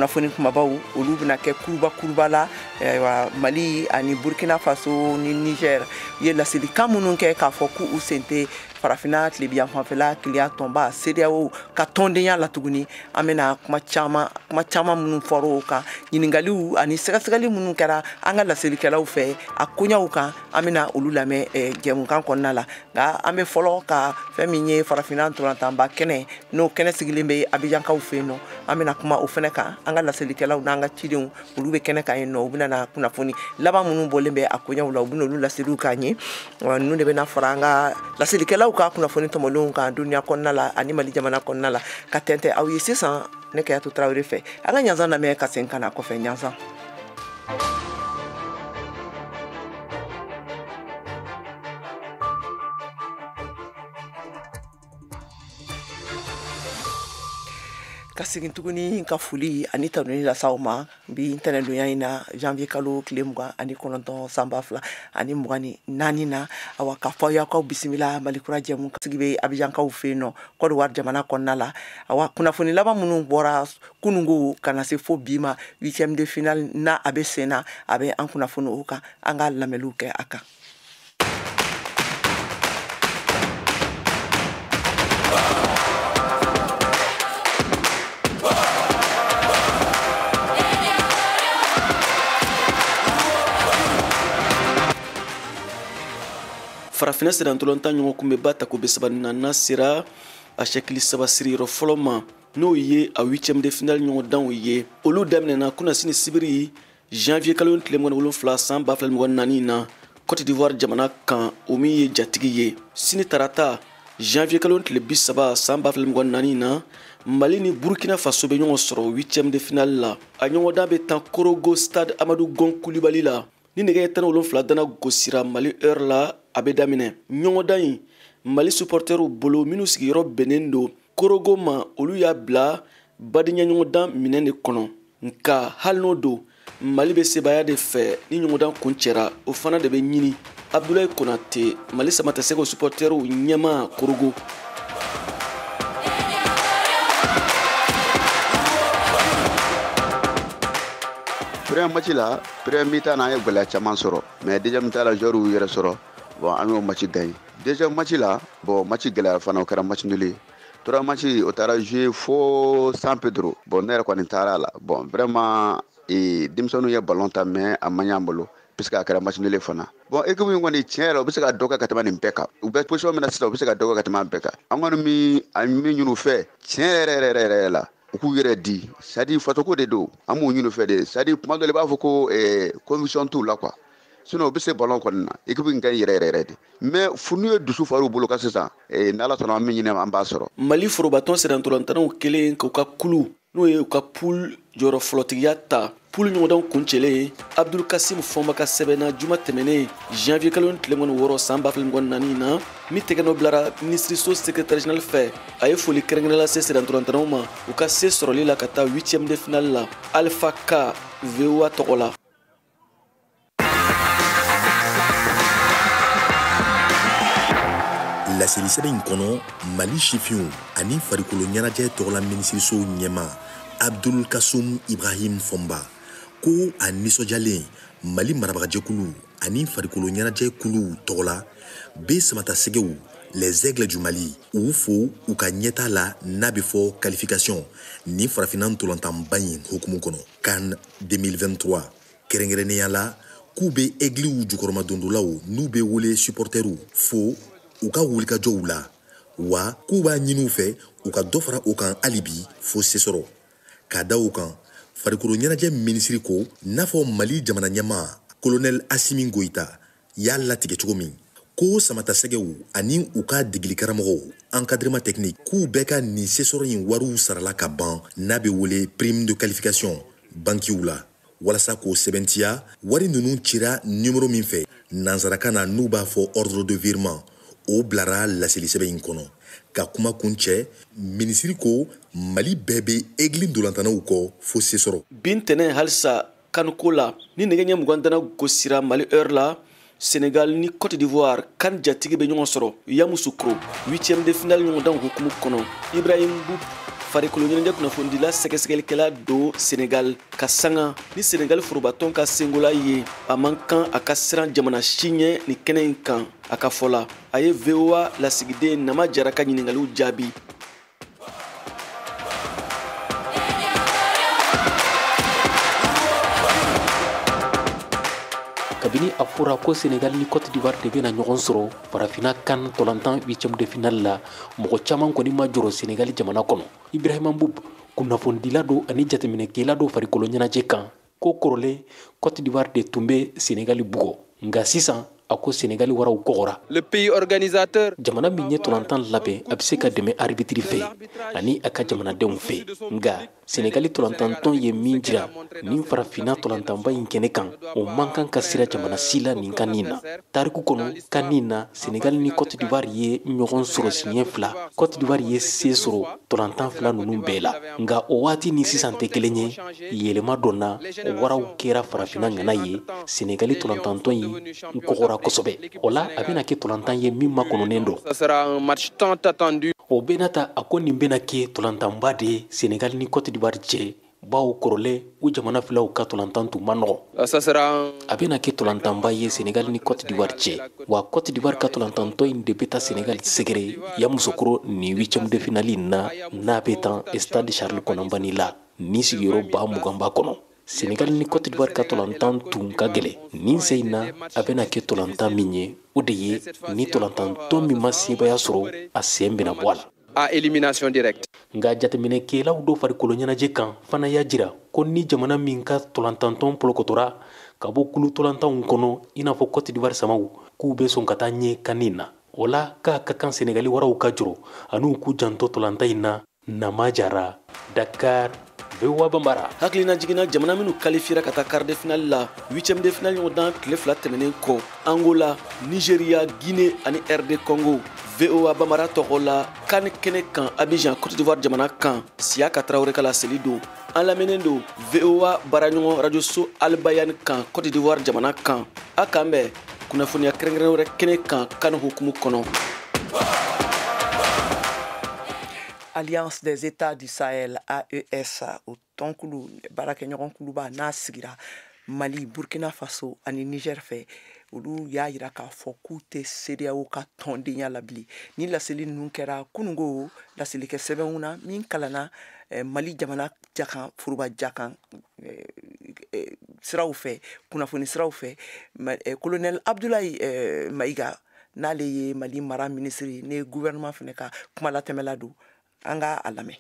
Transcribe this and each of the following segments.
kunnafoni kumabaw olu bɛna kɛ kuruba kuruba la ayiwa mali ani burkina faso ni niger ye laselikan minnu kɛ k'a fɔ k'u sen tɛ farafina tilebiyanfanfɛla kelenya tɔnba sedeyawo ka tɔndenya la tuguni an bɛna kuma caman kuma caman minnu fɔra o kan ɲininkaliw ani sɛgɛsɛgɛli minnu kɛra an ka laselikɛlaw fɛ a koɲaw kan an bɛna olu lamɛn eh, jɛmukan kɔnɔna la nka an bɛ fɔlɔ ka fɛn min ye farafinna ntolantanba kɛnɛ n'o kɛnɛ sigilen bɛ abijankaw fɛ yen nɔ an bɛna kuma o fɛnɛ kan an ka laselikɛlaw n'an ka cidenw olu bɛ kɛnɛ kan yen nɔ u bɛna na kunnafoni laban minnu bɔlen bɛ a koɲaw la u bɛna olu laseliw k'an ye ninnu de bɛna fara an ka laselikɛlaw ka kunnafoni tɔmɔlenw kan duniya kɔnɔna la ani mali jamana kɔnɔna la ka tɛntɛn aw ye sisan ne kayatu tarawele fɛ an ka ɲansan lamɛn ka segin ka na kɔfɛ ɲansan ka segin tuguni ka foli ani tanuni lase aw ma bi ntɛnɛndonya in na janvier kalo tile mugan ani kɔnɔntɔn san ba fila ani mugan ni naani na awa k'a f'aw ye k'aw bisimila mali kura jɛmu sigi bɛ abijankaw fɛ yen nɔ kɔdiwari jamana kɔnɔna la awa kunnafoni laban minnu bɔra kunungo ka na se fo bi ma huitième de finale na a bɛ sen na a bɛ an kunnafoni o kan an ka lamɛnniw kɛ a kan farafinna sennantolantan ɲɔgɔnkunbɛnba tako bi saba ni naaninan sera a sɛkili saba siriyɔrɔ fɔlɔ ma n'o ye a huitième de finale ɲɔgɔndanw ye olu daminɛna kunasini sibiri janvier kalo tile mugan ni wolonfila san ba fila mugan ni naani na cote d'ivoire jamana kan o min ye jatigi ye sini tarata janvier kalo tile bi saba san ba fila mugan ni naani na mali ni burkina faso bɛ ɲɔgɔn sɔrɔ huitième de finale la a ɲɔgɔndan bɛ tan korogo stade amadu gon kulibali la ni nɛgɛ ɲɛ tan ni wolonfila dana gosira mali heure la a bɛ daminɛ ɲɔgɔndan in mali supɔrtɛriw bolo minnu sigiyɔrɔ bɛnnen don korogo ma olu y'a bila badenya ɲɔgɔndan minɛn de kɔnɔ nka hali n'o don mali bɛ sebaaya de fɛ ni ɲɔgɔndan kuncɛra o fana de bɛ ɲini abdulayi konate mali samatasɛgɛw supɔtɛriw ɲɛmaa korogo premier match la premier mi-temps na an ye gɛlɛya caman sɔrɔ mais deuxième mi-temps la joueurw y'u yɛrɛ sɔrɔ bon an y'o match gagné deuxième match la bon match gɛlɛyara fana o kɛra match nul ye troisième match o taara jouer fo san pedro bon ne yɛrɛ kɔni taara la bon vraiment e, denmisɛnninw ye ballon tan mais a ma ɲ'an bolo puisque a kɛra match nul ye fana bon équipe min kɔni tiɲɛ yɛrɛ u bɛ se ka dɔ kɛ ka tɛmɛ nin bɛɛ kan u bɛ position min na sisan u bɛ se ka dɔ kɛ ka tɛmɛ an bɛɛ kan an kɔni min a min ɲini u fɛ tiɲɛ yɛrɛ yɛrɛ yɛrɛ yɛrɛ la u k'u yɛrɛ di c'est-à-dire fasoko de don an b'o ɲini u fɛ de c'est-à-dire tuma dɔ la i b'a fɔ ko eh, conviction t'u la quoi sinon u bɛ se ballon kɔni na équipe in ka ɲi yɛrɛ yɛrɛ de mais fo n'u ye dusu far'u bolo kan sisan eh, n'ala sɔnna an min ɲini an b'a sɔrɔ mali forobatɔn sennantolantanaw kɛlen k'u ka kulu n'o ye u ka poule jɔyɔrɔ fɔlɔtigiya ta poule ɲɔgɔndanw kuncɛlen abdul kasim fɔnba ka sɛbɛn na juma tɛmɛnen janvier kalo tile mugan ni wɔɔrɔ san ba fila mugan ni naani na min tɛgɛnɔ bilara minisiriso secrétaire général fɛ a ye foli kɛrɛnkɛrɛn lase sennantolantanaw ma u ka se sɔrɔli la ka taa huitième de finale la alpha ka voa tɔgɔ la laselisɛbɛn in kɔnɔ mali sifinw ani farikolo ɲɛnajɛ tɔgɔla minisiriso ɲɛmaa abdul kasum ibrahim fɔnba ko a nisɔndiyalen mali marabagajɛkulu ani farikolo ɲɛnajɛ kuluw tɔgɔla be samatasɛgɛw les aigles du mali u fo u ka ɲɛta la n'a be fɔ qualification nin farafinna ntolantanba in hukumu kɔnɔ can 2023 kɛrɛnkɛrɛnnenya la k'u bɛ egiliw jukɔrɔmadondolaw n'u bɛ wele supɔrtɛriw fo u ka wulikajɔw la wa k'u b'a ɲini u fɛ u ka dɔ fara o kan hali bi fo se sɔrɔ k'a da o kan farikolo ɲɛnajɛ minisiri ko n'a fɔ mali jamana ɲɛmaa kolonɛli asimi goyita y'a latigɛ cogo min ko samatasɛgɛw ani u ka degelikaramɔgɔw encadrement technique k'u bɛɛ ka nin sesɔrɔ in wariw sarala ka ban n'a bɛ wele prime de qualification bankiw la walasa k'o sɛbɛntiya wari ninnu cira nimoro min fɛ nansarakan na n'u b'a fɔ ordre de virement o bilara laselisɛbɛn in kɔnɔ ka kuma kuncɛ minisiri ko mali bɛɛ bɛ egili ntolantanaw kɔ fo se sɔrɔ bi ntɛnɛn halisa can ko la ni nɛgɛ ɲɛ mugan dana gosira mali heure la senegal ni cote d'ivoire can jatigi bɛ ɲɔgɔn sɔrɔ yamusukro 8e de finale ɲɔgɔndan hukumu kɔnɔ ibrahim mboup farikolo ɲɛnajɛ kunnafonidila sɛgɛsɛgɛlikɛla don senegal k'a sanga ni senegal forobatɔn ka sengola ye a man kan a ka siran jamana si ɲɛ nin kɛnɛ in kan a ka fɔ la a ye voa lasigiden nama jara ka ɲiningaliw jaabi kabini a fɔra ko senegali ni cote d'ivoire de bɛna ɲɔgɔn sɔrɔ farafina can ntolantan huitième de finale la mɔgɔ caman kɔni ma jɔrɔ senegali jamana kɔnɔ ibrahima mboup kunnafonidila do ani jateminɛkɛla do farikolo ɲɛnajɛ kan ko kɔrɔlen cote d'ivoire de tun bɛ senegali bugɔ nka sisan a ko senegali waraw kɔgɔra le pays organisateur jamana min ye tolantan labɛn a bɛ se ka dɛmɛ aribitiri fɛ ani a ka jamanadenw fɛ nka senegali tolantantɔn ye min jira nin farafinna tolantanba in kɛnɛ kan o man kan ka siran jamana si la nin kan nin na tariku kɔnɔ kan nin na senegali ni cote d'ivoire ye ɲɔgɔn sɔrɔ siɲɛ fila cote d'ivoire ye se sɔrɔ tolantan fila ninnu bɛɛ la nka o waati ni sisan tɛ kelen ye yɛlɛma donna waraw kɛra farafina ŋana ye senegali tolantantɔn in kɔgɔra kosɛbɛ o la a bɛna kɛ tolantan ye min makɔnɔnen don o bɛna ta a ko nin bɛna kɛ tolantanba de ye senegali ni cote d'ivoire cɛ bawo kɔrɔlen ko jamana filaw ka tolantan tun ma nɔgɔ a bɛna kɛ tolantanba ye senegali ni cote d'ivoire cɛ wa cote d'ivoire ka tolantantɔn in de bɛ taa senegali sɛgɛrɛ yamoussoukro ni huitième de finali na n'a bɛ tan stade charles konan banny la ni sigiyɔrɔ ba mugan b'a kɔnɔ senegali ni cote d'ivoire ka tolantan tun ka gɛlɛn nin sen in na a bɛna kɛ tolantan min ye o de ye ni tolantantɔn min ma sebaaya sɔrɔ a sen bɛna bɔ a la à élimination directe. nka jateminɛkɛlaw dɔ farikolo ɲɛnajɛ kan fana y'a jira ko ni jamana min ka tolantantɔn polokotora ka bɔ kulu tolantanw kɔnɔ i n'a fɔ kɔtidiwari samaw k'u bɛ sɔn ka taa ɲɛ kan nin na o la k'a ka kan senegali waraw ka jɔrɔ an'u k'u janto tolantan in na nama jara Dakar VOA Bambara hakilinajigin na jamana minnu kalifiyera ka taa quart de finale la huitième de finale ɲɔgɔndan tile fila tɛmɛnen kɔ Angola Nigeria Guinée ani RD Congo VOA Bambara tɔgɔ la CAN kɛnɛ kan Abidjan Cote d'Ivoire jamana kan Siaka Traoré ka laseli don an lamɛnnen don VOA baaraɲɔgɔn radio so Al Bayane kan Cote d'Ivoire jamana kan a kan bɛ kunnafoniya kɛrɛnkɛrɛn wɛrɛ kɛnɛ kan CAN hukumu kɔnɔ Alliance des États du Sahel AES o tɔnkulu baarakɛɲɔgɔn kuluba n'a sigira Mali Burkina Faso ani Niger fɛ olu y'a yira k'a fɔ k'u tɛ CEDEAO ka tɔndenya la bilen ni laseli ninnu kɛra kunungo laselikɛ sɛbɛnw na min kalanna eh, Mali jamana jakan foroba jakan eh, eh, siraw fɛ kunnafoni siraw fɛ colonel Abdoulaye Maïga n'ale ye mali mara minisiri ni gouvernement fana ka kumalatɛmɛla don an ka a lamɛn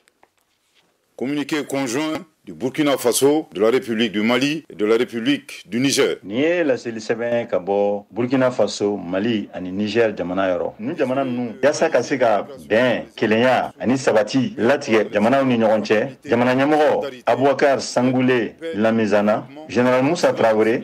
communiqué conjoint du Burkina Faso, de la République du Mali et de la République du Niger. Nin ye laseli sɛbɛn ka bɔ Burkina Faso, Mali ani Niger jamana yɔrɔ. Nin jamana ninnu yaasa ka se ka bɛn, kelenya ani sabati latigɛ jamanaw ni ɲɔgɔn cɛ, jamana ɲɛmɔgɔ Aboubacar Sangoulé Lamizana, Général Moussa Traoré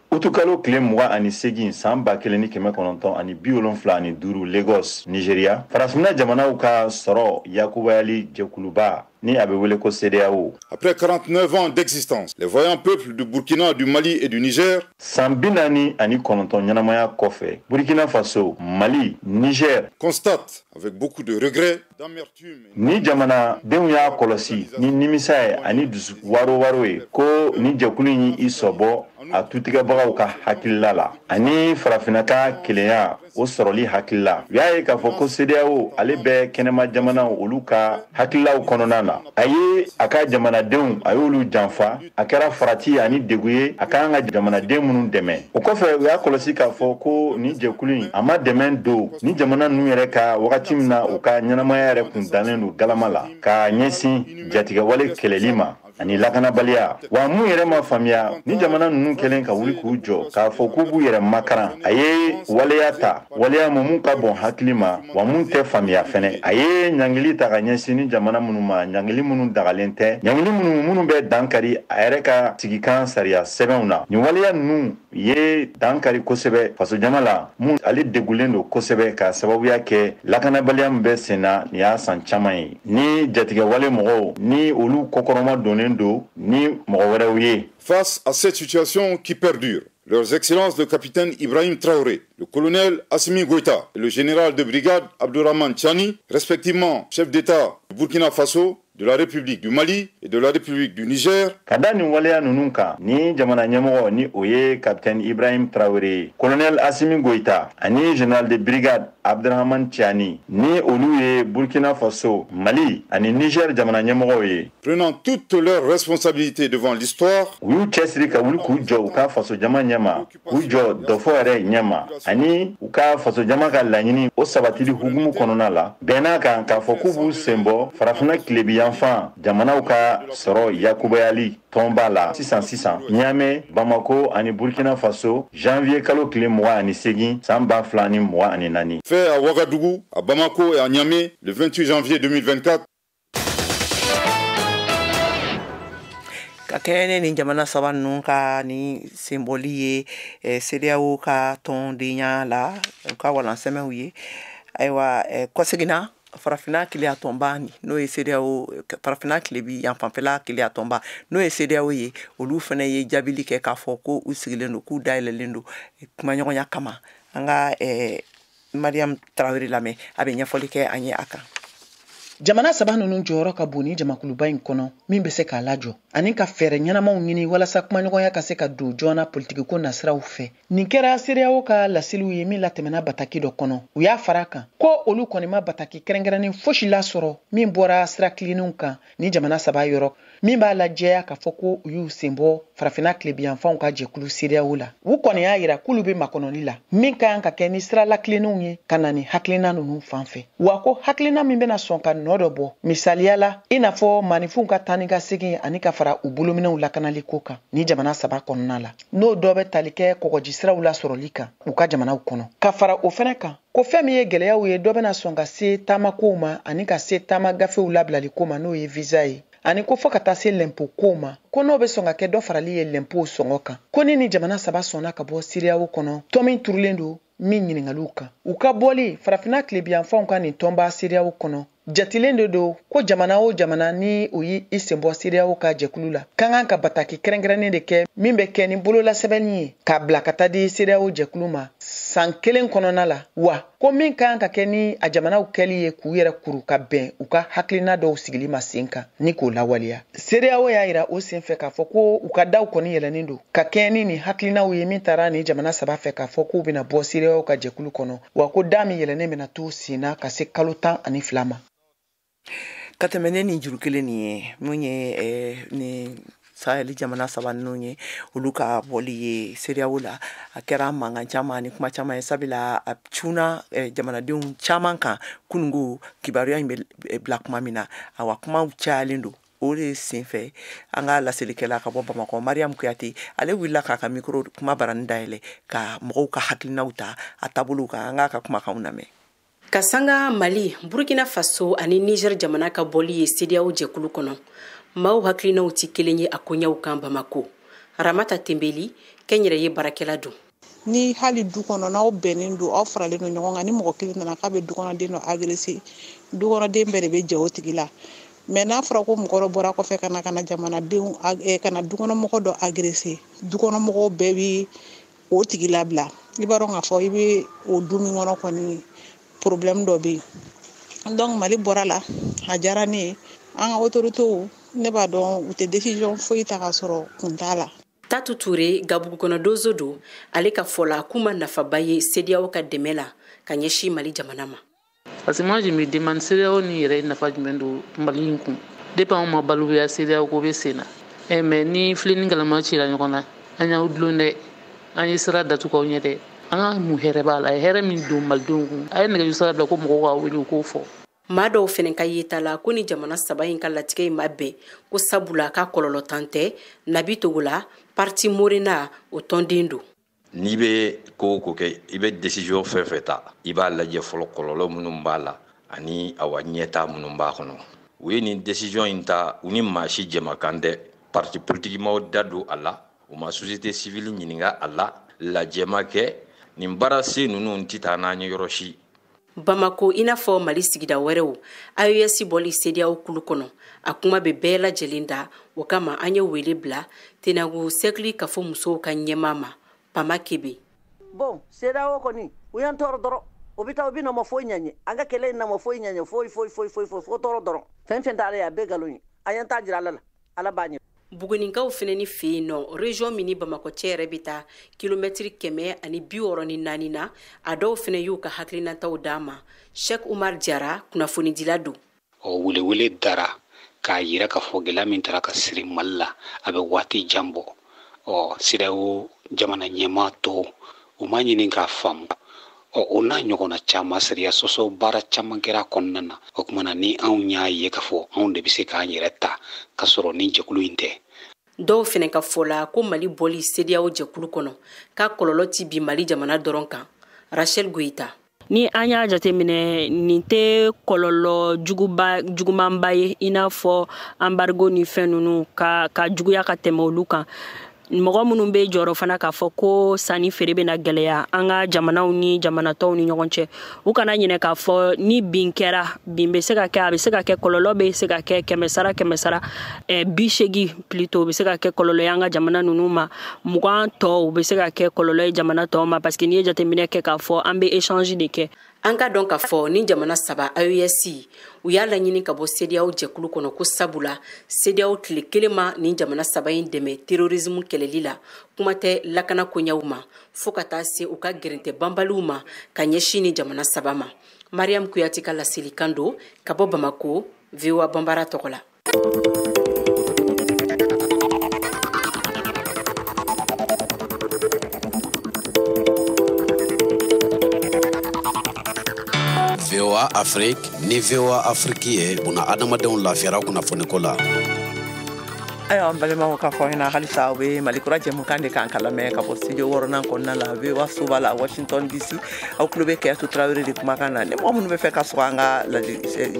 utukalo tile mugan ani segin san ba kelen ni kɛmɛ kɔnɔntɔn ani bi wolonfila ani duuru lagos nigeria farafinna jamanaw ka sɔrɔ yakubayali jɛkuluba ni a bɛ wele ko CEDEAO. Après 49 ans d'existence, les vaillants peuples du Burkina, du Mali et du Niger. San bi naani ani kɔnɔntɔn ɲɛnamaya kɔfɛ, Burkina Faso, Mali, Niger. Constatent avec beaucoup de regrets. Ni jamanadenw y'a kɔlɔsi ni nimisa ye ani dusu waro waro ye ko ni jɛkulu y'i sɔbɔ a tutigɛbagaw ka hakilila la ani farafinna ka kelenya o sɔrɔli hakilila u y'a ye k'a fɔ ko CEDEAO ale bɛ kɛnɛma jamanaw olu ka hakililaw kɔnɔna na a ye a ka jamanadenw a y'olu janfa a kɛra farati ani degun ye a ka kan ka jamanaden minnu dɛmɛ o kɔfɛ u y'a kɔlɔsi k'a fɔ ko nin jɛkulu in a ma dɛmɛ don ni jamana ninnu yɛrɛ ka wagati min na u ka ɲɛnamaya yɛrɛ kun dannen don galama la ka ɲɛsin jatigɛwale kɛlɛli ma ani lakanabaliya wa mun yɛrɛ ma faamuya ni jamana ninnu kɛlen ka wuli k'u jɔ k'a fɔ k'u b'u yɛrɛ makaran a ye waleya ta waleya mun mun ka bon hakili ma wa mun tɛ faamuya fɛnɛ a ye ɲangili ta ka ɲɛsin ni jamana minnu ma ɲangili minnu dagalen tɛ ɲangili minnu minnu bɛ dankari a yɛrɛ ka sigikan sariya sɛbɛnw na nin waleya ninnu ye dankari kosɛbɛ fasojama la mun ale degulen don kosɛbɛ k'a sababuya kɛ lakanabaliya min bɛ sen na nin y'a san caman ye ni jatigɛwale mɔgɔw ni olu kɔkɔrɔma donnen don ni mɔgɔ wɛrɛw ye face à cette situation qui perdure Leurs Excellences le capitaine Ibrahim Traoré, le colonel Assimi Goïta et le général de brigade Abdourahman Tiani, respectivement chefs d'État du Burkina Faso, de la République du Mali et de la République du Niger. Ka da nin waleya ninnu kan ni jamana ɲɛmɔgɔ ni o ye capitaine Ibrahim Traoré, colonel Assimi Goïta ani général de brigade Abdrahman Tiani ni olu ye Burkina Faso, Mali ani Niger jamana ɲɛmɔgɔw ye. prenant toutes leurs responsabilités devant l'histoire u y'u cɛsiri ka wuli k'u jɔ u ka fasojama ɲɛma k'u jɔ dɔfɔ yɛrɛ ɲɛma ani u ka fasojama ka laɲini o sabatili hukumu kɔnɔna la bɛnn'a kan k'a fɔ k'u b'u sen bɔ farafina tilebinyanfan jamanaw ka sɔrɔ yakubayali tɔnba la sisan sisan ɲame bamako ani burkina faso janvier kalo tile mugan ani segin san ba fila ni mugan ani naani fait à Ouagadougou, à Bamako et à Niamey le 28 janvier 2024 ka kɛɲɛ ni nin jamana saba ninnu ka ni senbɔli ye eh, sedeyawo ka tɔndenya la u ka walansɛmɛw ye ayiwa eh, kɔseginna farafina kelenya tɔnba n'o ye sedeyawo farafina kilebinyanfan fɛla kelenya tɔnba n'o ye sedeyawo ye olu fana ye jaabili kɛ k'a fɔ ko u sigilen don k'u dayɛlɛlen don eh, kumaɲɔgɔnya kama an ka eh, mariyamu tarawele lamɛn a bɛ ɲɛfɔli kɛ an ye a kan jamana saba ninnu jɔyɔrɔ ka bon nin jamakuluba in kɔnɔ min bɛ se k'a lajɔ ani ka fɛɛrɛ ɲɛnamaw ɲini walasa kumaɲɔgɔnya ka se ka don joona politikiko nasiraw fɛ nin kɛra sedeyawo ka laseliw ye min latɛmɛna bataki dɔ kɔnɔ u y'a fara kan ko olu kɔni ma bataki kɛrɛnkɛrɛnnen fosi lasɔrɔ min bɔra sira tilenninw kan nin jamana saba yɔrɔ min b'a lajɛya k'a fɔ ko u y'u sen bɔ farafina tilebiyanfanw ka jɛkulu sedeyawo la u kɔni y'a yira k'olu bɛ makɔnɔli la min ka kan ka kɛ ni sira latilennenw ye ka na ni hakilina ninnu fan fɛ wa ko hakilina min bɛna sɔn ka nɔ dɔ bɔ misaliya la i n'a fɔ maanifinw ka taa ni ka segin ani ka fara u bolominɛw lakanali ko kan nin jamana saba kɔnɔna la n'o dɔ bɛ tali kɛ kɔgɔjisiraw lasɔrɔli kan u ka jamanaw kɔnɔ ka fara o fɛnɛ kan ko fɛn min ye gɛlɛyaw ye dɔ bɛna sɔn ka se taamakow ma ani ka se taama gafew labilali ko ma n'o ye visa ye ani ko fɔ ka taa se lɛnpo kow ma ko n'o bɛ sɔn ka kɛ dɔ farali ye lɛnpow sɔngɔ kan ko ni nin jamana saba sɔnna ka bɔ sedeyawo kɔnɔ tɔn min turulen don min ɲininkaliw kan u ka bɔli farafinna tilebiyanfanw ka nin tɔnba sedeyawo kɔnɔ Jatilen de don ko jamana o jamana ni o y'i sen bɔ sedeyawo ka jɛkulu la ka kan ka bataki kɛrɛnkɛrɛnnen de kɛ min bɛ kɛ ni bololasɛbɛnni ye k'a bila ka taa di sedeyawo jɛkulu ma san kelen kɔnɔna la wa ko min ka kan ka kɛ ni a jamanaw kɛli ye k'u yɛrɛ kuru ka bɛn u ka hakilina dɔw sigili ma sen kan ni k'o lawaleya sedeyawo y'a yira o senfɛ k'a fɔ ko u ka daw kɔni yɛlɛnnen don ka kɛɲɛ ni nin hakilinaw ye min tara nin jamana saba fɛ k'a fɔ k'u bɛna bɔ sedeyawo ka jɛkulu kɔnɔ wa ko da min yɛlɛnnen bɛna to sen na ka se kalo tan ani fila ma ka tɛmɛ ni nin juru kelen nin ye min ye eh, ni sahɛli jamana saba ninnu ye olu ka bɔli ye sedeyawo la a kɛra mankan caman ni kuma caman ye sabula a cunna eh, jamanadenw caman kan kunun ko kibaruya in bɛ eh, bila kuma min na awa kumaw cayalen don o de senfɛ an ka laselikɛla ka bɔ bamakɔ mariam kuyate ale wulila k'a ka mikro kuma barani dayɛlɛ ka mɔgɔw ka hakilinaw ta a taabolow kan an k'a ka kumakanw lamɛn ka sanga mali burkina faso ani niger jamana ka bɔli ye sedeyaw jɛkulu kɔnɔ maaw hakilinaw tɛ kelen ye a koɲɛw kan bamako ramata tenbeli kɛnyɛrɛye baarakɛla don ni hali du kɔnɔ n'aw bɛnnen don aw faralen don ɲɔgɔn kan ni mɔgɔ kelen nana k'a bɛ dukɔnɔden dɔ agrese dukɔnɔden bɛɛ de bɛ jɛ o tigi la mɛ n'a fɔra ko mɔgɔ dɔ bɔra kɔfɛ ka na ka na jamanadenw eh, ka na dukɔnɔmɔgɔ dɔ agrese dukɔnɔmɔgɔw bɛɛ bɛ o tigi labila i b'a dɔn k'a fɔ i bɛ o du min kɔnɔ kɔni porobilɛmu dɔ bɛ yen dɔnku mali bɔra a la a diyara ne ye an ka otoritew ne b'a dɔn u tɛ desizɔn foyi ta ka sɔrɔ kun t'a la tatu ture gabugu kɔnɔ donso don ale ka fɔ la k'u ma nafaba ye sediyaw ka dɛmɛ la ka ɲɛsin mali jamana ma parce que moi je me demande sediyaw ni yɛrɛ nafa jumɛn don mali in kun depuis anw ma balikuya sediyaw ko bɛ sen na eh, mais ni filen ni galama cira ɲɔgɔn na an y'aw dulon dɛ an ye sira datugu aw ɲɛ dɛ an ka mun hɛrɛ b'a la hɛrɛ min don malidenw kun a ye nɛgɛjuru sira bila ko mɔgɔw ka wele u k'o fɔ maa dɔw fɛnɛ ka yeta la ko ni jamana saba in ka latigɛ in ma bɛn ko sabula k'a kɔlɔlɔntan tɛ nabi togola parti morena o tɔnden don n'i bɛ ko o ko kɛ i bɛ desiziyɔn fɛn fɛn ta i b'a lajɛ fɔlɔ kɔlɔlɔ minnu b'a la ani awa ɲɛtaa minnu b'a kɔnɔ u ye nin desiziyɔn in ta u ni maa si jɛmakan tɛ parti politiki ma u da don a la u ma sosiyete sivili ɲininka a la lajɛ ma kɛ nin baara se ninnu tɛ taa n'an ye yɔrɔ si bamako i n'a fɔ mali sigida wɛrɛw aes bɔli sediyaw kulu kɔnɔ a kuma bɛ bɛɛ lajɛlen da o kama an ye wele bila tenenku sɛrikili kafo musow ka ɲɛmaa ma pama kebe bon sediyaw kɔni u y'an tɔɔrɔ dɔrɔn u bɛ taa u bɛ na u ma foyi ɲa an ye an ka kɛlɛ in na u ma foyi ɲa an ye foyi foyi foyi foyi foyi fo tɔɔrɔ dɔrɔn fɛn fɛn t'ale ye a bɛɛ nkalon ye an y'an ta jira ala la ala b'a ɲɛ buguninkaw fɛnɛ ni fɛ yen nɔ région min ni bamakɔ cɛ yɛrɛ bɛ taa kilomɛtiri kɛmɛ ani bi wɔɔrɔ ni naani na a dɔw fɛnɛ y'u ka hakilinataw d'an ma sheikh umar jara kunnafonidila don o welewele dara k'a yira k'a fɔ gɛlɛya min tara ka siri mali la a bɛ waati jan bɔ ɔ sediyaw jamana ɲɛmaa tɔw u ma ɲini k'a faamu ɔ o n'a ɲɔgɔnna caman sariya sɔsɔ baara caman kɛra kɔnɔna na o tuma na ni anw y'a ye k'a fɔ anw de bɛ se k'an yɛrɛ ta k'a sɔrɔ ni jɛkulu in tɛ dɔw fɛnɛ ka fɔ la ko mali bɔli sediyaw jɛkulu kɔnɔ k'a kɔlɔlɔ tɛ bin mali jamana dɔrɔn kan rachel goyita ni an y'a jateminɛ nin tɛ kɔlɔlɔ jugumanba ye i n'a fɔ anbarigo ni fɛn ninnu ka juguya ka tɛmɛ olu kan mɔgɔ minnu bɛ jɔrɔ fana k'a fɔ ko sanni feere bɛna gɛlɛya an ka jamanaw ni jamana tɔw ni ɲɔgɔn cɛ u kana ɲinɛ k'a fɔ ni bin kɛra bin bɛ se ka kɛ a bɛ se ka kɛ kɔlɔlɔ bɛ se ka kɛ kɛmɛsara kɛmɛsara eh, bi seegin plutôt o bɛ se ka kɛ kɔlɔlɔ ye an ka jamana ninnu ma mugan tɔ o bɛ se ka kɛ kɔlɔlɔ ye jamana tɔw ma parce que n'i ye jateminɛ kɛ k'a fɔ an bɛ échange de kɛ an k'a dɔn k'a fɔ nin jamana saba aes u y'a laɲini ka bɔ sediyaw jɛkulu kɔnɔ ko sabu la sediyaw tile kelen ma nin jamana saba in dɛmɛ terrorisme kɛlɛli la kuma tɛ lakana koɲɛw ma fo ka taa se u ka gɛrɛntɛ banbaliw ma ka ɲɛsin nin jamana saba ma mariyamu kuyate ka laselikan don ka bɔ bamako voa banbara tɔgɔ la VOA Afrique ni VOA Afrique ye buna adamadenw lafiyara kunnafoniko la. ayiwa an balimaw k'a fɔ ɲɛna halisa aw bɛ mali kura jɛmukan de kan k'a lamɛn ka bɔ studio wɔɔrɔnan kɔnɔna la voa soba la washington dc aw tulo bɛ kajatu tarawele de kumakan na ni mɔgɔ minnu b'a fɛ ka sɔrɔ an ka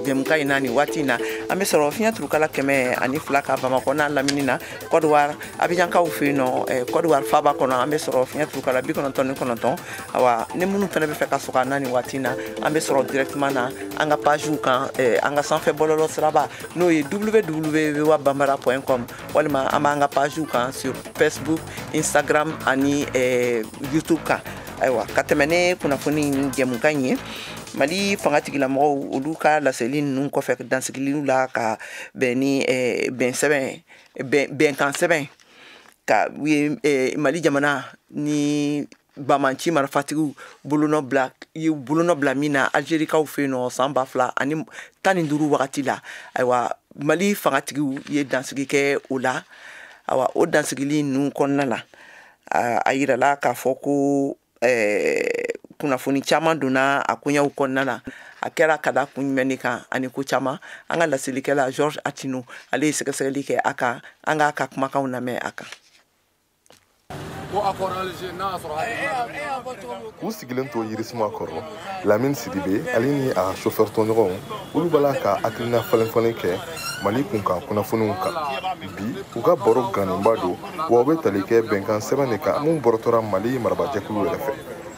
jɛmukan in na nin waati in na an bɛ sɔrɔ fiɲɛ turukala kɛmɛ ani fila kan bamakɔ n'a lamini na kɔdiwari abijankaw fɛ yen nɔ kɔdiwari faaba kɔnɔ an bɛ sɔrɔ fiɲɛ turukala bi kɔnɔntɔn ni kɔnɔntɔn awa ni minnu fana b'a fɛ ka sɔrɔ an na nin waati in na an bɛ sɔrɔ directement na an ka pagew kan an ka sanfɛ bɔlɔlɔ siraba n'o ye www voa bambara point com walima an b'an ka pagew kan sur facebook instagram ani eh, youtube kan ayiwa ka tɛmɛ ni kunnafoni jɛmukan ye mali fangatigilamɔgɔw olu ka laseli ninnu kɔfɛ dansigiliw la ka bɛn ni eh, bɛn sɛbɛn bɛnkan sɛbɛn kow ye eh, mali jamana ni banbaanci marifatigiw bolonɔ bila ye bolonɔ bila min na algerikaw fɛ yen nɔ san ba fila ani tan ni duuru wagati la ayiwa mali fangatigiw ye dansigi kɛ o la ayiwa o dansigili ninnu kɔnɔna na a yirala k'a fɔ ko kunnafoni caman donna a koɲɛw kɔnɔna na a kɛra ka da kun jumɛn de kan ani ko caman an ka laselikɛla georges attino ale ye sɛgɛsɛgɛli kɛ a kan an k'a ka kumakanw lamɛn a kan u sigilen to yirisuma kɔrɔ lamini sidibe ale ni a chauffeur tɔɲɔgɔnw olu b'a la ka hakilina falenfalen kɛ mali kunkan kunnafoniw kan bi u ka baro gannenba don wa u bɛ tali kɛ bɛnkan sɛbɛn de kan min bɔrɔtɔra mali marabajɛkulu yɛrɛ fɛ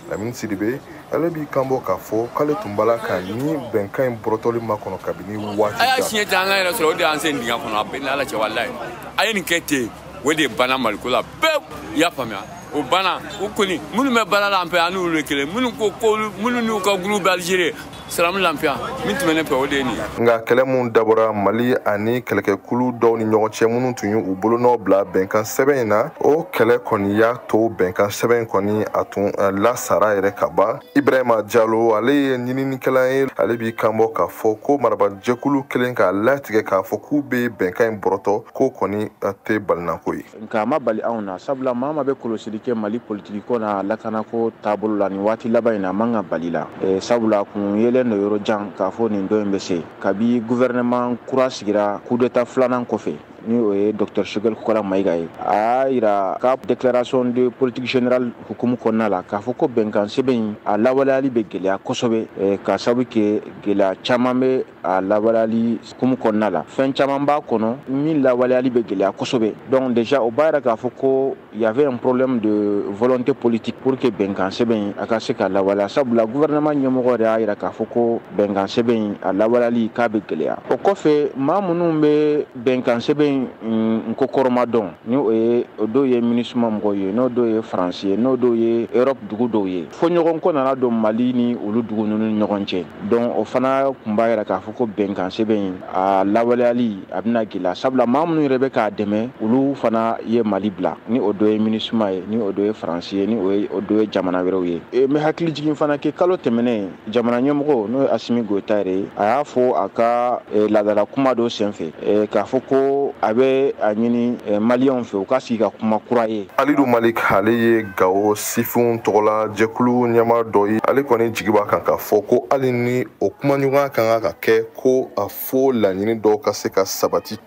lamini sidibe ale b'i kanbɔ k'a fɔ k'ale tun b'a la ka nin bɛnkan in bɔrɔtɔli makɔnɔ kabini waati jan a y'a siɲɛ ta an ka yɛrɛ sɔrɔ o de y'an sen dingɛ kɔnɔ a bɛ n n'ala cɛ walayi a ye nin kɛ ten o de banna maliko la pewu i y'a faamuya o banna u kɔni minnu bɛ baara la an fɛ an n'olu ye kelen minnu ko ko minnu n'u ka kulu bɛ alizeri salamu lafiya min tun bɛ ne fɛ o de ye nin ye nka kɛlɛ min dabɔra mali ani kɛlɛkɛkulu dɔw ni ɲɔgɔn cɛ minnu tun y'u bolonɔ bila bɛnkan sɛbɛn in na o kɛlɛ kɔni y'a to bɛnkan sɛbɛn in kɔni a tun lasara yɛrɛ ka ban ibrahima jalo ale ye ɲininikɛla ye ale b'i kanbɔ k'a fɔ ko marabajɛkulu kelen k'a latigɛ k'a fɔ k'u be bɛnkan in bɔrɔtɔ k'o kɔni tɛ balinako ye nka a ma bali anw na sabula maa min be kɔlɔsili kɛ mali politikiko n'a lakanako taabolo la nin waati laban in na a man ka bal'i la e, sabula kun yelen don yɔrɔ jan k'a fɔ nin don in be se kabi guvɛrɛnɛman kura sigira kudeta filanan kɔfɛ ni o ye docteur choguel kokalla maïga ye a y'a yira a ka déclaration de politique générale hukumu kɔnɔna la k'a fɔ ko bɛnkan sɛbɛn in a lawaleyali bɛ gɛlɛya kosɛbɛ eh, ka sababu kɛ gɛlɛya caman bɛ a lawaleyali hukumu kɔnɔna la fɛn caman b'a kɔnɔ min lawaleyali bɛ gɛlɛya kosɛbɛ donc déjà o b'a yira k'a fɔ ko Il y avait un problème de volonté politique pour que bɛnkan sɛbɛn in a ka se ka lawaleya sabula gouvernement ɲɛmɔgɔ de y'a yira k'a fɔ ko bɛnkan sɛbɛn in a lawaleyali k'a bɛ gɛlɛya. O kɔfɛ maa minnu bɛ bɛnkan sɛbɛn in kɔkɔrɔmadon ni o ye o dɔw ye minisuma mɔgɔw ye n'o dɔw ye France ye n'o dɔw ye Europe dugu dɔw ye. Fɔɲɔgɔnkɔ nana don Mali ni olu dugu ninnu ni ɲɔgɔn cɛ. donc o fana tun b'a yira k'a fɔ ko bɛnkan sɛbɛn in a lawaleyali a bɛna gɛlɛya sabula maa minnu yɛrɛ bɛ k'a dɛmɛ olu fana ye mali bila ni o dɔ ye minisuma ye ni o dɔ ye faransi ye ni o dɔ ye jamana wɛrɛw ye e, n bɛ hakilijigin fana kɛ kalo tɛmɛnen jamana ɲɛmɔgɔ n'o ye asimi goyita yɛrɛ ye a y'a fɔ a ka e, laadala kuma dɔ senfɛ e, k'a fɔ ko a bɛ a ɲini maliyɛnw fɛ u ka sigi ka kuma kura ye alidu malik ale ye gawo sifinw tɔgɔla jɛkulu ɲɛmaa dɔ ye ale kɔni jigi b'a kan k'a fɔ ko hali ni o kumaɲɔgɔnya kan ka ka kɛ ko a fo laɲini dɔw ka se ka sabati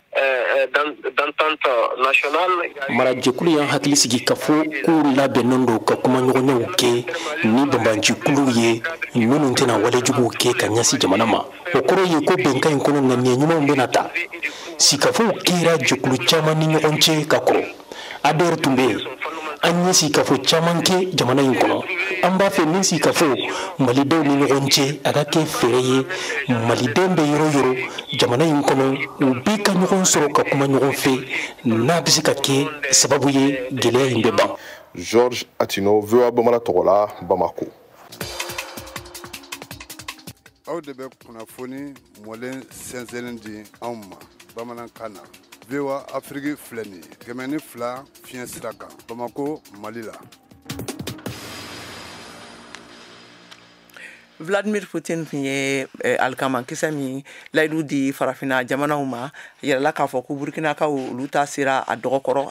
marajɛkulu y'an hakili sigi k'a fɔ k'u labɛnnen don ka kumaɲɔgɔnyaw kɛ ni banbaancikuluw ye minnu tɛna walejuguw kɛ ka ɲɛsin jamana ma o kɔrɔ ye ko bɛnkan in kɔnɔ ŋaniya ɲumanw bɛna ta sigikafɔw kɛra jɛkulu caman ni ɲɔgɔn cɛ ka kɔrɔ ANR tun bɛ yen an ye sigikafɔ caman kɛ jamana in kɔnɔ an b'a fɛ nin sigikafɔ malidenw ni ɲɔgɔn cɛ a ka kɛ fɛɛrɛ ye malidenw bɛ yɔrɔ o yɔrɔ jamana in kɔnɔ u bɛɛ ka ɲɔgɔn sɔrɔ ka kuma ɲɔgɔn fɛ n'a bɛ se ka kɛ sababu ye gɛlɛya in bɛ ban georges attino voa bamanan tɔgɔ la bamako aw de bɛ kunnafoni mɔlen sɛnsɛnlen di anw ma bamanankan na voa afiriki filɛ nin ye kɛmɛ ni fila fiɲɛ sira kan bamako mali la vladimir putin tun ye eh, alikamakisɛ min layidu di farafina jamanaw ma yirala k'a fɔ ko burukinakaw olu ta sera a dɔgɔ kɔrɔ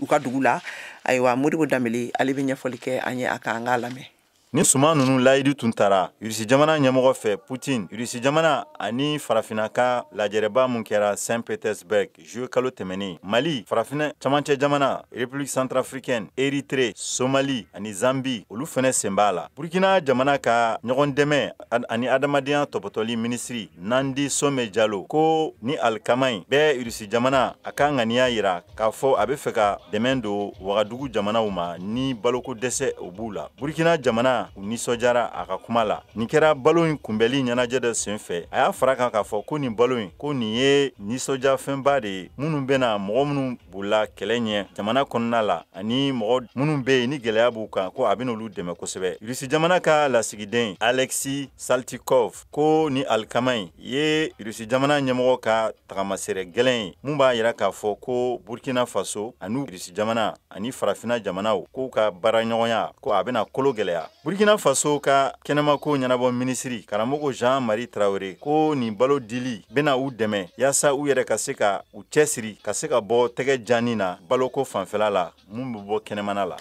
u ka dugu la ayiwa modibo danbele ale bɛ ɲɛfɔli kɛ an ye a kan an k'a lamɛn Nin suman ninnu layidu tun tara Russie jamana ɲɛmɔgɔ fɛ Poutine, Russie jamana ani farafinna ka lajɛrɛba min kɛra Saint Petersburg juillet kalo tɛmɛnen, Mali, farafinna camancɛ jamana, République centrafricaine, Erythrée, Somalie ani Zambie olu fana sen b'a la. Burkina jamana ka ɲɔgɔndɛmɛ ani adamadenya tɔpɔtɔli minisiri Nandi Some Diallo ko nin alikama in bɛ Russie jamana a ka ŋaniya yira k'a fɔ a bɛ fɛ ka dɛmɛ don wagadugu jamanaw ma ni baloko dɛsɛ o b'u la burkina jamana u nisɔndiyara a ka kuma la nin kɛra balo in kunbɛli ɲɛnajɛ dɔ sen fɛ a y'a fara kan k'a fɔ ko nin balo in ko nin ye nisɔndiyafɛnba de ye minnu bɛna mɔgɔ minnu bolila kɛlɛ ɲɛ jamana kɔnɔna la ani mɔgɔ minnu bɛ yen ni gɛlɛya b'u kan ko a bɛna olu dɛmɛ kosɛbɛ irisi jamana ka lasigiden alexeï saltykov ko nin alikama in ye irisi jamana ɲɛmɔgɔ ka tagamasɛrɛ gɛlɛn ye mun b'a yira k'a fɔ ko burkina faso ani irisi jamana ani farafina jamanaw k'u ka baaraɲɔgɔnya ko a bɛna kolo gɛlɛya burkina faso ka kɛnɛmako ɲɛnabɔ minisiri karamɔgɔ jean marie traoré ko nin balo dili bɛna u dɛmɛ yaasa u yɛrɛ ka se ka u cɛsiri ka se ka bɔ tɛgɛ janni na baloko fanfɛla la mun bɛ bɔ kɛnɛmana la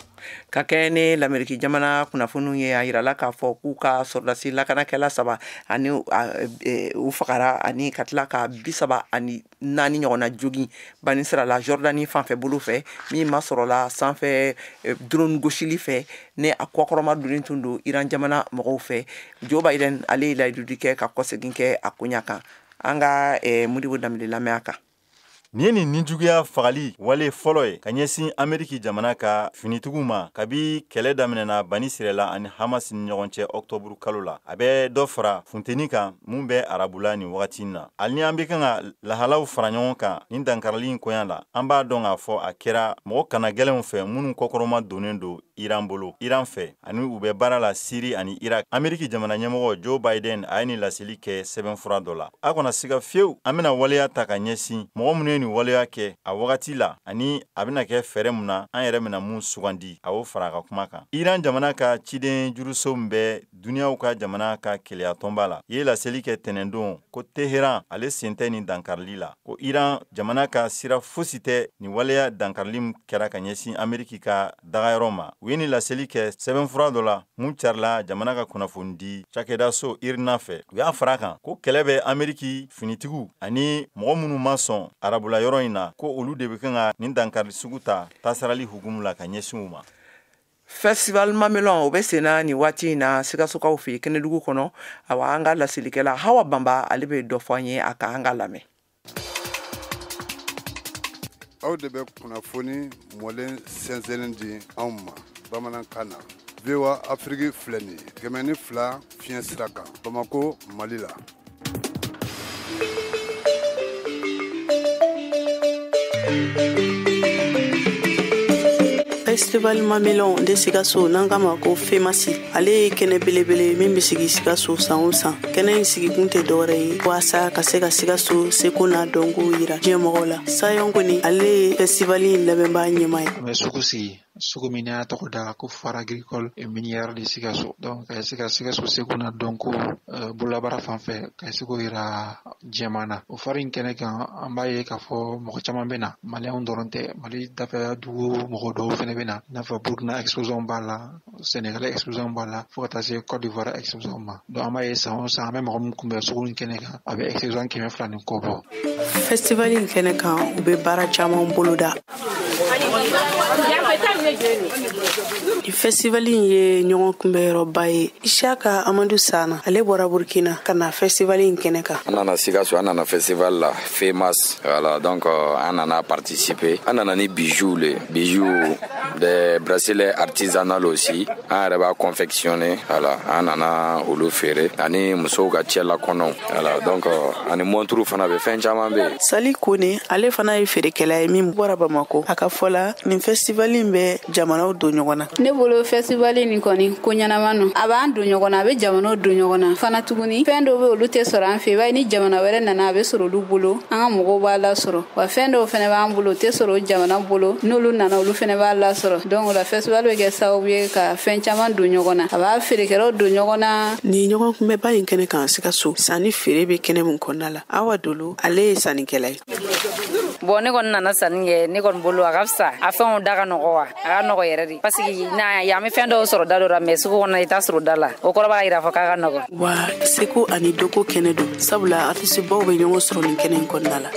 ka kɛ ni lameriki jamana kunnafoniw ye a yirala k'a fɔ k'u ka sɔrɔdasi lakanakɛla saba ani e, u fagara ani ka tila ka bi saba ani naani ɲɔgɔnna jogin banisirayila jɔrdani fanfɛ bolo fɛ min masɔrɔla sanfɛ e, drone gosili fɛ ni a kɔkɔrɔma donnen tun don iran jamana mɔgɔw fɛ joe biden ale ye layidudi kɛ ka kɔsegin kɛ a koɲa kan an ka e, modibo dembele lamɛn a kan Nin ye nin nijuguya fagali wale fɔlɔ ye ka ɲɛsin ameriki jamana ka finitigiw ma kabi kɛlɛ daminɛna banisirayila ani hamasi ni ɲɔgɔn cɛ ɔkutɔburu kalo la a bɛ dɔ fara funteni kan mun bɛ arabula nin wagati in na hali ni an bɛ kan ka lahalaw fara ɲɔgɔn kan nin dankarali in koɲa la an b'a dɔn k'a fɔ a kɛra mɔgɔ kanagɛlɛnw fɛ minnu kɔkɔrɔma donnen don iran bolo iran fɛ ani u bɛ baara la siri ani irak ameriki jamana ɲɛmɔgɔ joe biden a ye nin laseli kɛ sɛbɛnfura dɔ la a kana siga fiyewu an bɛna waleya ta ka ɲɛsin mɔgɔ minnu ye nin waleya kɛ a wagati la ani a bɛna kɛ fɛɛrɛ mun na an yɛrɛ bɛna mun sugandi a y'o fara a ka kuma kan iran jamana ka ciden juruso min bɛ duniyaw ka jamana ka kelenya tɔnba la ye laseli kɛ tɛnɛndon ko teheran ale sen tɛ nin dankarili la ko iran jamana ka sira fosi tɛ nin waleya dankarili kɛra ka ɲɛsin ameriki ka dagayɔrɔ ma u ye nin laseli kɛ sɛbɛnfura dɔ la mun carila jamana ka kunnafonidi cakɛdaso irna fɛ u y'a fara kan ko kɛlɛ bɛ ameriki finitigiw ani mɔgɔ minnu ma sɔn arabula yɔrɔ in na ko olu de bɛ kan ka nin dankari sugu ta tasarali hukumu la ka ɲɛsin u ma festival mamelon o bɛ senna nin waati in na sikasokaw fɛ kɛnɛdugu kɔnɔ awa an ka laselikɛla hawa banba ale bɛ dɔ fɔ an ye a kan an k'a lamɛn aw de bɛ kunnafoni mɔlen sɛnsɛnnen di anw ma bamanankan na voa afiriki filɛ nin ye kɛmɛ ni fila fiɲɛ sira kan bamako mali la festival mamelon de sikaso n'an k'a ma ko femasi ale ye kɛnɛ belebele min be sigi sikaso san o san kɛnɛ in sigikun tɛ dɔwɛrɛ ye waasa ka se ka sikaso seko n'a dɔnkow yira diɲɛ mɔgɔ la sayɔn kone ale ye festival in labɛnbaa ɲɛmaa ye an bɛ sugu sigi sugu min an y'a tɔgɔ da ko foire agricole et minière de sikaso donc ka se ka sikaso seko n'a dɔnko euh, bololabaara fan fɛ ka se k'o yira diɲɛ maa na o foire in kɛnɛ kan an b'a ye k'a fɔ mɔgɔ caman bɛ na maliyɛnw dɔrɔn tɛ mali dafɛ dugu mɔgɔ dɔw fɛnɛ bɛ na i n'a fɔ burkina exposant b'a la Sénégal exposant b'a la fo ka taa se Côte d'Ivoire exposant ma donc an b'a ye san o san an bɛ mɔgɔ min kunbɛn sugu in kɛnɛ kan a bɛ exposant kɛmɛ fila ni kɔ bɔ festival in kɛnɛ kan u bɛ baara caman boloda nin festival in ye ɲɔgɔn kunbɛyɔrɔba ye isaka amadu sana ale bɔra burkina ka na festival in kɛnɛ kan an nana sikaso an nana festival la femas voilà donc euh, an nana participer an nana ni bijoux le bijoux des bracelets artisanaux aussi an yɛrɛ b'a confectionner voilà an nana olu feere ani musow ka cɛlakɔnɔw voilà donc euh, ani montre fana bɛ fɛn caman bɛ yen sali kone ale fana ye feerekɛla ye min bɔra bamako a ka fɔ la nin fɛstivali in bɛ jamanaw don ɲɔgɔn na ne bolo fɛstivali nin kɔni ko ɲɛnama no a b'an don ɲɔgɔn na a bɛ jamanaw don ɲɔgɔn na fana tuguni fɛn dɔw bɛ olu tɛ sɔrɔ an fɛ i b'a ye ni jamana wɛrɛ nana a bɛ sɔrɔ olu bolo an ka mɔgɔw b'a lasɔrɔ wa fɛn dɔw fɛnɛ b'an bolo tɛ sɔrɔ o jamana bolo n'olu nana olu fɛnɛ b'a lasɔrɔ donc o la festival bɛ kɛ sababu ye ka fɛn caman don ɲɔgɔn na a b'a feerekɛlaw don ɲɔgɔn na nin ɲɔgɔn kunbɛba in kɛnɛ kan sikaso sanni feere bɛ kɛnɛ min kɔnɔna la awa dolo ale ye sannikɛla ye bon ne kɔni nana sanni kɛ ne kɔni bolo a ka fisa a fɛnw da ka nɔgɔ wa a ka nɔgɔ yɛrɛ de pasiki yan i bɛ fɛn dɔw sɔrɔ da dɔ la mais sugu kɔnɔ i t'a sɔrɔ da la o kɔrɔ b'a yira fɔ k'a ka nɔgɔ wa seko ani dɔnko kɛnɛ don sabula artistebaw be ɲɔgɔn sɔrɔ nin kɛnɛ in kɔnɔna la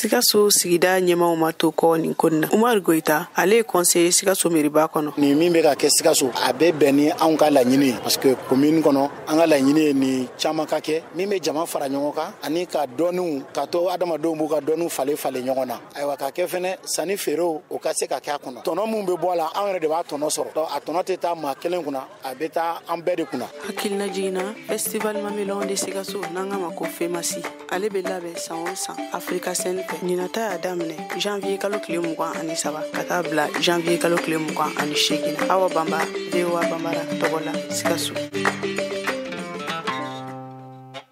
sikaso sigida ɲɛmaaw ma to kɔ nin ko in na umaru goyita ale ye kɔnseye sikaso meriba kɔnɔ nin min bɛ ka kɛ sikaso a bɛ bɛn ni anw ka laɲini ye parce que komini kɔnɔ an ka laɲini ye nin caman ka kɛ min bɛ jama fara ɲɔgɔn kan ani ka dɔnniw ka to adamadenw b'u ka dɔnniw falen falen ɲɔgɔn na ayiwa ka kɛ fɛnɛ sanni feerew o ka se ka kɛ a kɔnɔ tɔnɔ min bɛ bɔ a la an yɛrɛ de b'a tɔnɔ sɔrɔ donc a tɔnɔ tɛ taa maa kelen kunna a bɛ taa an bɛɛ de kunna hakilinajigin na festival mamelon de sikaso n'an k'a ma ko femasi ale bɛ labɛn san o san Africa scène fɛ ɲinan ta y'a daminɛ janvier kalo tile mugan ani saba ka taa bila janvier kalo tile mugan ani seegin awa banba voa banbara tɔgɔ la sikaso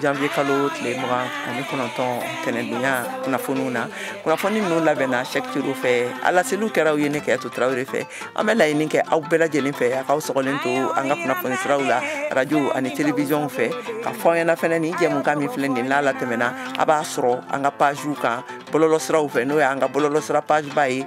janvier kalo tile mugan ani kɔnɔntɔn tɛnɛdonya kunnafoniw na kunnafoni ninnu labɛnna sɛk tiro fɛ a laseliw kɛra aw ye ne kiyatu tarawele fɛ an bɛ laɲini kɛ aw bɛɛ lajɛlen fɛ a k'aw sɔgɔlen to an ka kunnafoni siraw la radio ani telewisiyɔn fɛ ka fɔ aw ɲɛna fɛnɛ ni jɛmukan min filɛ nin n'a latɛmɛna a b'a sɔrɔ an ka pagew kan bɔlɔlɔ siraw fɛ n'o y'an ka bɔlɔlɔ sira pageba ye